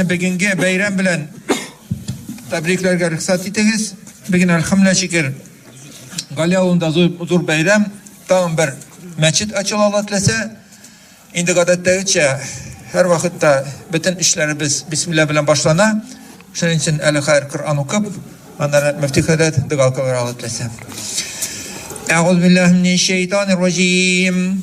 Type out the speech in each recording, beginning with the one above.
Бүгенге бәйрәм белән тәбрикләргә рөхсәт итегез. Бүген әлхәмдә шикер Гали авылында зур бәйрәм, тагын бер мәчет ачыла ала теләсә. Инде гадәттәгечә һәр вакытта бөтен эшләребез бисмилла белән башлана. Шуның өчен әле хәер Коръән укып, аннары мөфти хәзрәт дога кылыр ала теләсә. Әгъузу биллаһи минәш шәйтанир раҗим.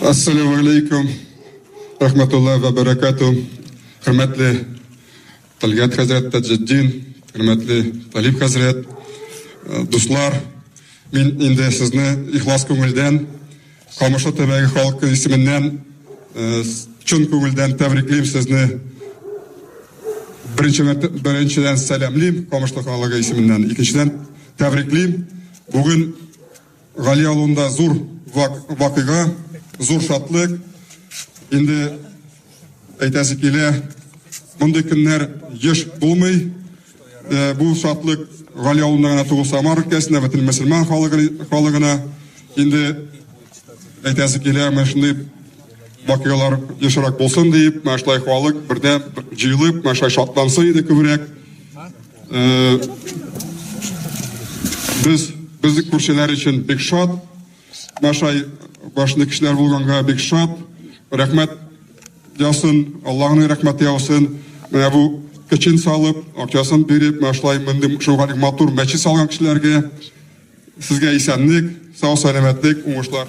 Ассаламу алейкум, рахматулла ва баракату, хөрмәтле Талгат хәзрәт Таҗетдин, хөрмәтле Талиб хәзрәт, э, дуслар, мин инде сезне ихлас күңелдән, Камышлы төбәге халкы исеменнән э, чын күңелдән тәбриклим сезне. Беренче беренчедән сәламлим Камышлы халыгы исеменнән, икенчедән тәбриклим. Бүген Гали авылында зур вакыйга, зур шатлык. Инде әйтәсе килә, мондый көннәр еш булмый. Э, бу шатлык Гали авылында гына түгел, Самар өлкәсендә бөтен мөселман халыгына инде әйтәсе килә, менә шундый вакыйгалар ешрак булсын диеп, менә шулай халык бердәм җыелып, менә шулай шатлансын иде күбрәк. Э, без безнең күршеләр өчен бик шат. Башай башны кешеләр булганга бик шат. Рәхмәт ясын, Аллаһның рәхмәте яусын. Менә бу кечен салып, акчасын биреп, менә шулай мондый шулай матур мәче салган кешеләргә сезгә исәнлек, сау сәламәтлек, уңышлар.